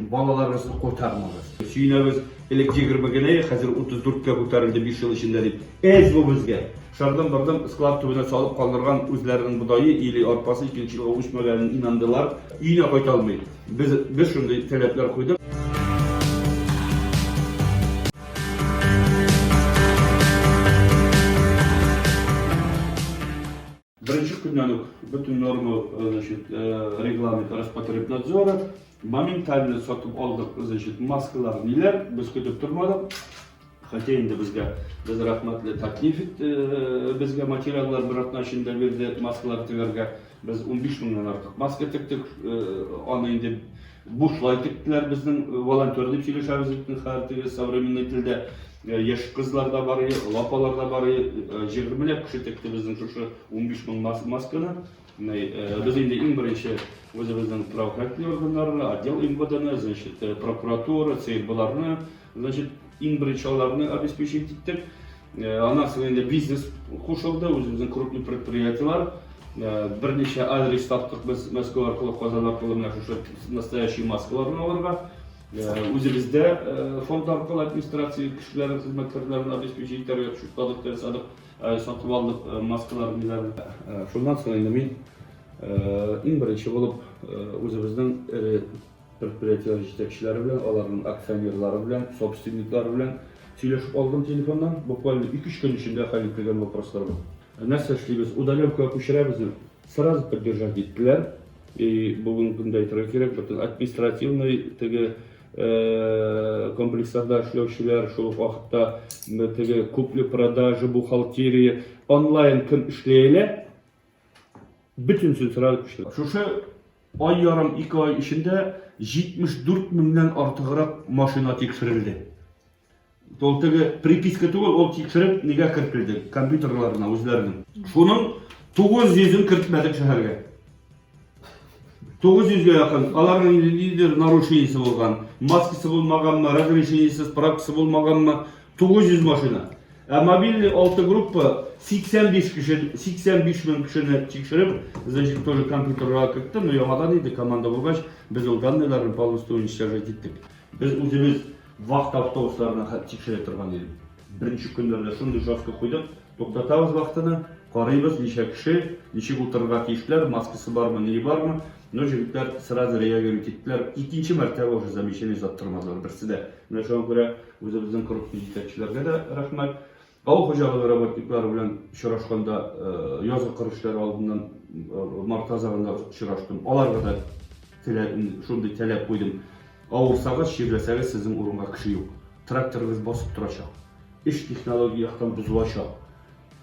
Балаларыгызны кайтармагыз. Сөенәбез, элек егерме генә иде, хәзер утыз дүрткә күтәрелде биш ел эчендә, дип. Әз бу безгә! Шырдым-бырдым склад төбенә салып калдырган үзләренең бодае или арпасы икенче елга үсмәгәнен инандылар. Өенә кайта алмый. Без, без шундый таләпләр куйдык. Беренче көннән үк бөтен норма, значит, регламент Роспотребнадзора, моментально сатып алдык, значит, маскалар ниләр, без көтеп тормадык. Хотя инде безгә, без рәхмәтле Татнефть безгә материаллар бер атна эчендә бирде, маскалар тегәргә. Без 15 меңнән артык маска тектек, аны инде бушлай тектеләр безнең волонтер дип сөйләшәбез бит, хәер, теге современный телдә. Яшь кызлар да бар иде, олы апалар да бар иде. Җыгрмләп кеше текте безнең шушы 15 мең масканы. Без инде иң беренче үзебезнең правоохранительный органнарны, отдел МВДны, значит, прокуратура, ЦРБларны, значит, иң беренче аларны обеспечить иттек. Аннан соң инде бизнес кушылды, үзебезнең крупный предприятиелар. Берничә адрес таптык без Мәскәү аркылы, Казан аркылы менә шушы настоящий маскаларны алырга. Үзебездә фонд аркылы администрация кешеләрен, хезмәткәрләрен обеспечить итәргә төшеп калдык, ясадык, сатып алдык маскалар, ниләрен. Шуннан соң инде мин иң беренче булып үзебезнең эре предприятиеләр җитәкчеләре белән, аларның акционерлары белән, собственниклары белән сөйләшеп алдым телефоннан. Буквально ике-өч көн эчендә хәл ителгән вопрослар бу. Нәрсә эшлибез? Удаленкага күчерәбезме? Сразу поддержать иттеләр. И бүгенге көндә әйтергә кирәк, бөтен административный теге э, комплексларда эшләүчеләр, шул ук вакытта теге купли-продажи, бухгалтерия, онлайн кем эшли әле, бөтенсен сразу күчтеләр. Шушы ай ярым, ике ай эчендә 74 меңнән артыграк машина тикшерелде. Ул теге приписка түгел, ул тикшереп нигә кертелде? Компьютерларына үзләренең. Шуның 900-ын кертмәдек шәһәргә. 900-гә якын. Аларның инде нидер нарушениесе булган. Маскасы булмаганмы, разрешениесе, справкасы булмаганмы? 900 машина. Ә мобильный 6 группа 85 кеше, 85 мең кешене тикшереп, значит, тоже компьютерга кертте, но яңадан инде команда булгач, без ул данныйларны полностью уничтожать иттек. Без үзебез вахта автобусларына хәтле тикшерә торган идек. Беренче көннәрдә шундый жестко куйдык, туктатабыз вахтаны, карыйбыз, ничә кеше, ничек утырырга тиешләр, маскасы бармы, ние бармы. Ну, җегетләр сразу реагируй киттеләр. Икенче мәртәбә уже замечание озаттырмадылар берсе дә. Менә шуңа күрә үзебезнең группа җитәкчеләргә дә рәхмәт. Авыл хуҗалыгы работниклары белән очрашканда язгы кыр эшләре алдыннан март азагында очраштым. Аларга да шундый таләп куйдым. Авырсагыз, чирләсәгез, сезнең урынга кеше юк. Тракторыгыз басып торачак. Эш технология яктан бозылачак.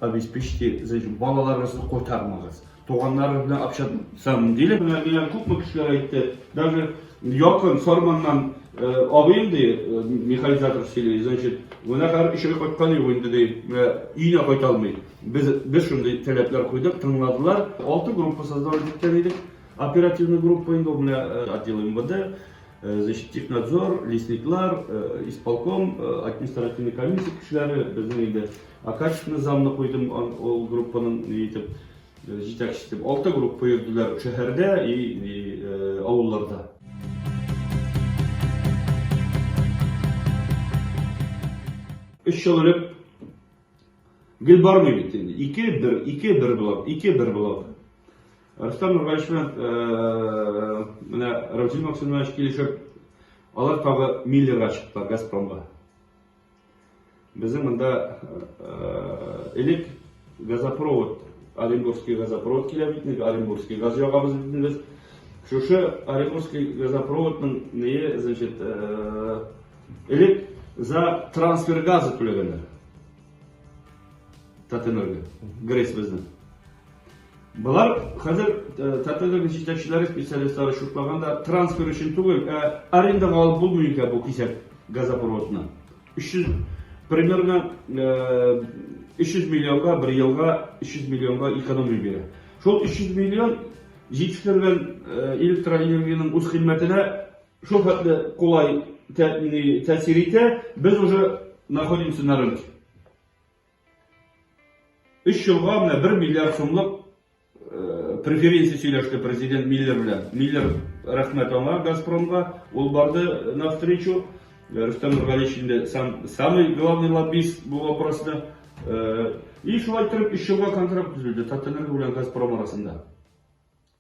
Обеспечьте, балаларыгызны кайтармагыз. Туганнарыбыз белән общаться диде. Менә миңа күпме кешеләр әйтте, даже якын Сарманнан абыем ди, механизатор сөйли, значит, менә хәзер өчәү кайткан юк инде ди, менә өенә кайта алмый. Без без шундый таләпләр куйдык, тыңладылар. Алты группа создавать иткән идек. Оперативный группа инде ул менә отдел МВД, значит, технадзор, лесниклар, исполком, административный комиссия кешеләре, безнең инде Ә качественный замны куйдым ул группаның ни итеп җитәкче итеп. Алты группа йөрделәр шәһәрдә и авылларда. Өч ел элек гел бармый бит инде. Ике бер, ике бер булып, ике бер булып. Рустам Нургалевич белән э, менә Равзил Максимович килешеп, алар тагы Миллерга чыктылар, Газпромга. Безнең монда элек газопровод, Оренбургский газопровод килә бит инде, Оренбургский газ ягабыз бит инде без. Шушы Оренбургский газопроводның нее, значит, элек за трансфер газы түләгәннәр. Татэнерго, Грейс безнең. Болар хәзер ТТДның җитәкчеләре, специалистлары шутлаганда, трансфер өчен түгел, ә арендага алып булмый икән бу кисәк газопроводны. 300 примерно 300 миллионга бер елга 300 миллионга экономия бирә. Шул 300 миллион җитештерелгән электроэнергиянең үз хезмәтенә шул хәтле кулай тәэсир итә, без уже находимся на рынке. Өч елга менә бер миллиард сумлык преференция сөйләште президент Миллер белән. Миллер рәхмәт аңа Газпромга, ул барды навстречу. Рөстәм Нургалиевич инде сам самый главный лоббист бу вопроста. И шулай торып, өч елга контракт төзелде Татэнерго белән Газпром арасында.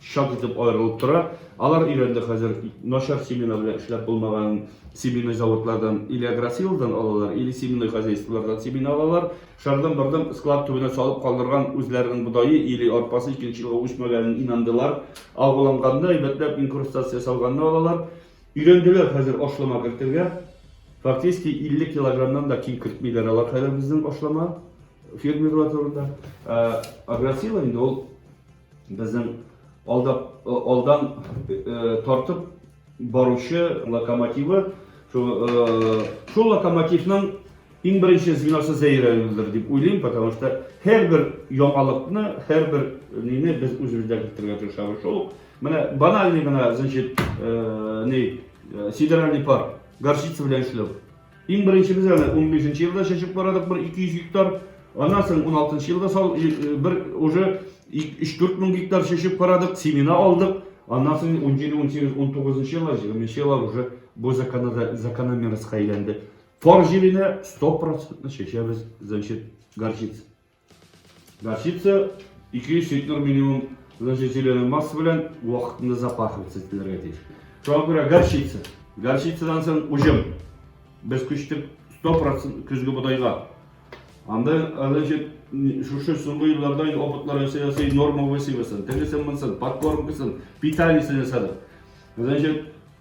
чат итеп аерылып тора. Алар өйрәнде хәзер начар семена белән эшләп булмаган семенной заводлардан или агросилдан алалар, или семенной хозяйстволардан семена алалар. Шардан бардан склад төбенә салып калдырган үзләренең бодае или арпасы икенче елга үсмәгәнен инандылар. Алгыланганда әйбәтләп инкрустация салганны алалар. Өйрәнделәр хәзер ашлама кертергә. Фактически 50 килограммнан да ким кертмиләр алар хәзер безнең ашлама фермерлар турында. Агросила инде ул Безнең алда, э, алдан э, тартып баручы локомотивы, шул, э, шул локомотивның иң беренче звеносы зәйрәлдер дип уйлыйм, потому что һәрбер яңалыкны, һәрбер нине без үзебездә кертергә тырышабыз. Шул менә банальный гына, значит, э, ни, э, сидеральный пар, горчица белән эшләү. Иң беренче без әле унбишенче елда чәчеп карадык бер 200 гектар, аннан соң уналтынчы елда сал бер уже өч-дүрт мең гектар чәчеп карадык, семена алдык, аннан соң унҗиде, унсигез, унтугызынчы еллар, җигерменче еллар уже бу закономерностька әйләнде. Фар җиленә сто процентлы чәчәбез, значит, горчица. Горчица 200 литр минимум значительный масса белән вакытында запахиваться ителергә тиеш. Шуңа күрә горчица. Горчицадан соң уҗым. Без күчтек 100% көзге бодайга. Анда, значит, шушы соңгы елларда инде опытлар ясый-ясый норма высевасын, тегесен-монсын, подкормкасын, питаниесен ясадык. Значит,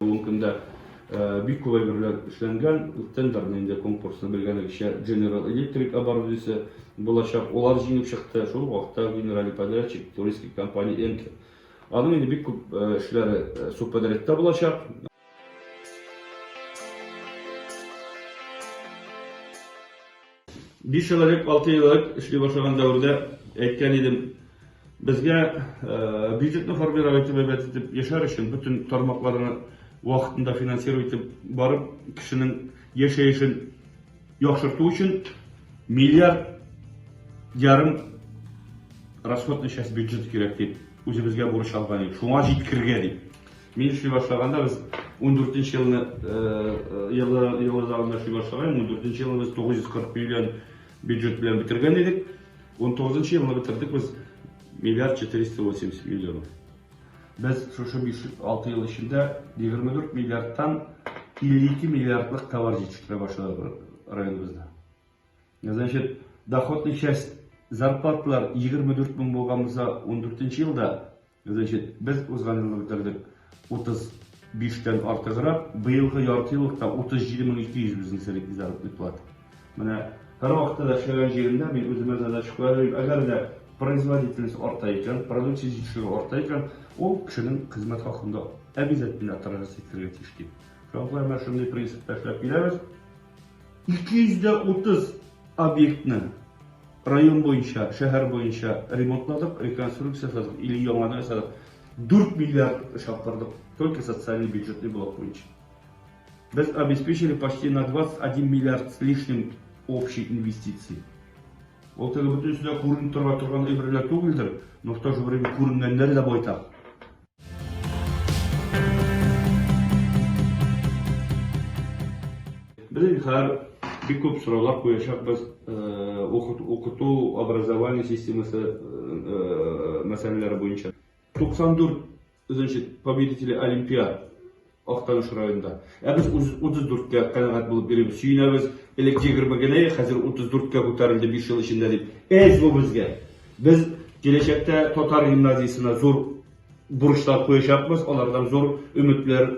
Бүгенге көндә бик кулай берлән эшләнгән тендерны инде конкурсны белгәнегезчә General Electric оборудиесе булачак. Алар җиңеп чыкты. Шул вакытта генеральный подрядчик туристик компания Энке. Аның инде бик күп эшләре субподрядта булачак. Биш ел элек, алты ел элек эшли башлаган дәвердә әйткән идем, безгә бюджетны формировать итеп, әйбәт итеп яшәр өчен бөтен тармакларны вакытында финансировать итеп барып, кешенең яшәешен яхшырту өчен миллиард ярым расходный часть бюджет кирәк дип, үзебезгә бурыч алган идек. Шуңа җиткергә дип. Мин эшли башлаганда без ундүртенче елны елларында эшли башлаган, ундүртенче елны без 940 миллион бюджет белән бетергән идек. Унтугызынчы елны бетердек без миллиард 480 миллион. Без шушы 5-6 ел эчендә 24 миллиардтан 52 миллиардлык товар җитештерә башладык районыбызда. Значит, доходный часть зарплаталар 24 мең булган булса, 14 елда Значит, без узган елны бетердек 35 тән артыграк, быелгы яртыеллыкта 37200 бизнесерик ди заработный плата. Менә һәрвакытта да эшләгән җирендә мин үземә задача куям, әгәр дә производительность арта икән, продукция җитешүе арта икән, ул кешенең хезмәт хакын да обязательно тырыгыз итәргә тиеш дип. Шуңа күрә менә шундый принципта эшләп киләбез. 230 объектны район буенча, шәһәр буенча ремонтладык, реконструкция ясадык, или яңадан ясадык. 4 миллиард шапкырдык, только социальный бюджетный блок буенча. Без обеспечили почти на 21 миллиард с лишним общей инвестиции. Ул теге бөтенесе дә күренеп тора торган әйберләр түгелдер, но в то же время күренгәннәр дә байтак. Без хәзер бик күп сораулар куячакбыз укыту, образование системасы мәсьәләләре буенча. 94 нче победителе олимпиад Актаныш районында. Ә без 34 кә канәгать булып йөрибез, сөенәбез. Элек 20 генә иде, хәзер 34 кә күтәрелде биш ел эчендә, дип. Эш бу безгә. Без киләчәктә татар гимназиясенә зур бурычлар куячакбыз, алардан зур өметләр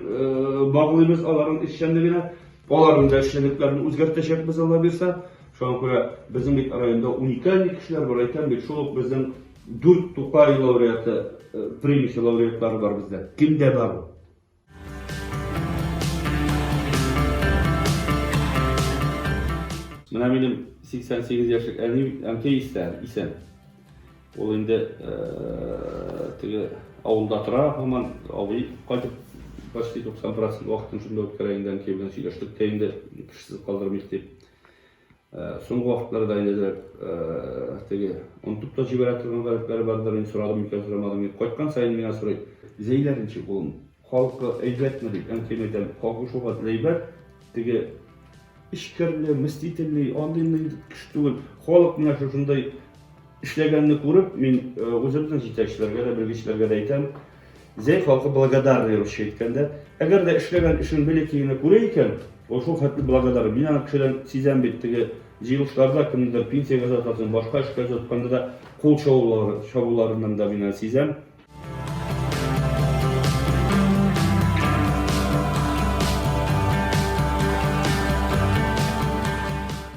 баглыйбыз, аларның эшчәнлегенә. Аларның да эшчәнлекләрен үзгәртәчәкбез, Алла бирсә. Шуңа күрә безнең бит районда уникаль кешеләр бар, әйтәм бит, шул ук безнең дүрт Тукай лауреаты, премиясе лауреатлары бар бездә. Кемдә бар ул? Менә минем 88 яшьлек әни, әнкәй исән, исән. Ул инде теге авылда тора, һаман абый кайтып почти 90% вакытын шунда үткәрә инде әнкәй белән сөйләштек тә инде кешесез калдырмыйк дип. Соңгы вакытларда әйләндереп, теге, онытып та җибәрә торган гарәпләре бардыр, мин сорадым микән, сорамадым микән, кайткан саен миңа сорый. Зәйләр ничек улым? Халкы әйбәтме? дип, әнкәйемә әйтәм, халкы шул хәтле әйбәт, теге, эчкерли, мстительный, андый-мондый кеше түгел. Халык менә шушындый эшләгәнне күреп, мин үзебезнең җитәкчеләргә дә, белгечләргә дә әйтәм, Зәй халкы благодарный русча әйткәндә. Әгәр дә эшләгән эшен бәләкәй генә күрә икән, ул шул хәтле благодарный. Мин аны кешедән сизәм бит, теге җыелышларда кемнедер пенсиягә озатасың, башка эшкә озатканда да кул чабуларыннан да мин аны сизәм.